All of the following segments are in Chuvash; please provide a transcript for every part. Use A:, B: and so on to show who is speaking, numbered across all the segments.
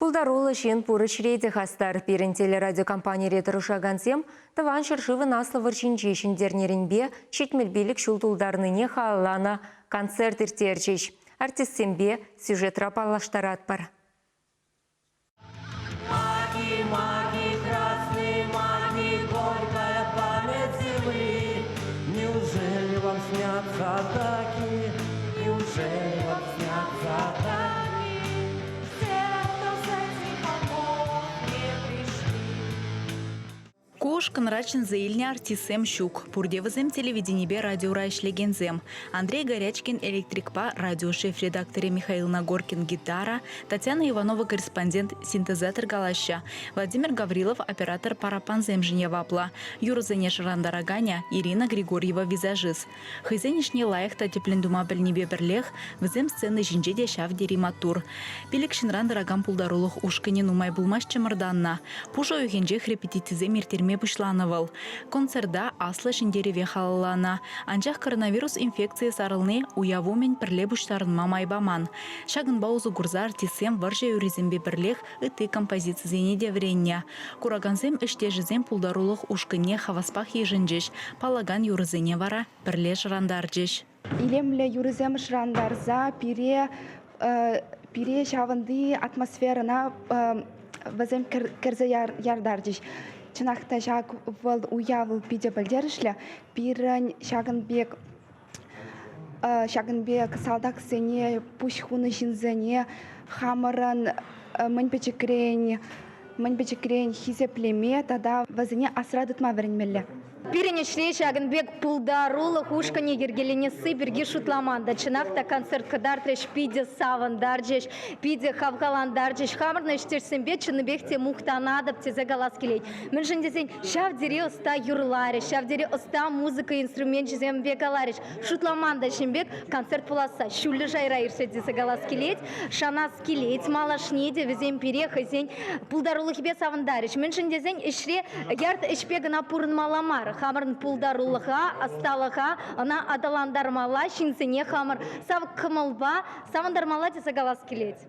A: Пултаруллӑ ҫын пур ӗҫре те хастар. Пирӗн телерадиокомпанире тӑрӑшакансем Тӑван ҫӗршывӑн Аслӑ вӑрҫинче ҫӗнтернӗренпе ҫитмӗл пилӗк ҫул тултарнине халалланӑ концерт ирттерчӗҫ. Артистсемпе сюжетра паллаштаратпӑр.
B: Маги, маги, красные маги, горькая память земли, Неужели вам снятся атаки? Неужели вам снятся атаки?
C: Ку ушкӑнра чӗнсе илнӗ артистсем ҫук. Пурте вӗсем телевиденипе радиора ӗҫлекенсем. Андрей Горячкин электрикпа радиошеф редакторӗ Михаил Нагоркин гитара, Татьяна Иванова корреспондент синтезатор калаҫҫӗ, Владимир Гаврилов оператор параппансемшӗн яваплӑ, юрӑсене шӑрантараканӗ Ирина Григорьева визажист, Хӑйсен ӗҫне лайӑх та тӗплӗн тума пӗлнипе пӗрлех вӗсем сцена ҫинче те ҫав тери маттур. Пилӗк ҫынран тӑракан пултарулӑх ушкӑнӗ нумай пулмасть чӑмӑртаннӑ. Пушӑ уйӑхӗнчех репетицисем ирттерме пуҫланӑ вӑл. Концерта Аслӑ Ҫӗнтерӗве халалланӑ. Анчах коронавирус инфекцийӗ сарӑлни уяв умӗн пӗрле пуҫтарӑнма май паман. Ҫакӑнпа усӑ курса артистсем вӑрҫӑ юррисемпе пӗрлех ытти композицисене те вӗреннӗ. Куракансем ӗҫтешӗсем пултарулӑх ушкӑнне хаваспах йышӑнчӗҫ, паллакан юрӑсене вара пӗрле шӑрантарчӗҫ. Илемлӗ
D: юрӑсем шӑрантарса пире пире ҫавӑнти атмосферӑна вӗсем кӗрсе яртарчӗҫ. Чӑнах та ҫак вӑл уяв питӗ пӗлтерӗшлӗ. Пирӗн ҫакӑн пек Ҫакӑн пек салтаксене, пуҫ хунӑ ҫынсене хамӑрӑн мӗн пӗчӗкрен мӗн пӗчӗкрен хисеплеме тата вӗсене асра тытма вӗренмелле. Пирӗн ӗҫре
E: ҫакӑн пек пултарулӑх ушкӑнӗ йӗркеленесси пирки шутламан та. Чӑнах та концерт кӑтартрӗҫ, питӗ савӑнтарчӗҫ, питӗ хавхалантарчӗҫ. Хамӑрӑн ӗҫтешсемпе чӑннипех те мухтанатӑп тесе калас килет. Мӗншӗн тесен ҫав тери ӑста юрларӗҫ, ҫав тери ӑста музыка инструменчӗсемпе каларӗҫ. Шутламан та ҫын пек концерт пуласса ҫӳллӗ шайра иртсе тесе калас килет. Шанас килет, малашне те вӗсем пире хӑйсен пултарулӑхӗпе савӑнтарӗҫ. Мӗншӗн тесен ӗҫре ярт ӗҫпе кӑна пурӑнмалла мар. Хамӑрӑн пултарулӑха, ӑсталӑха ӑна аталантармалла, ҫынсене хамӑр сав кӑмӑлпа савӑнтармалла тесе калас килет.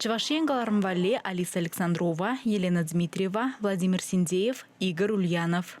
B: Чӑваш
C: Ен кӑларӑм валли Алиса Александрова, Елена Дмитриева, Владимир Синдеев, Игорь Ульянов.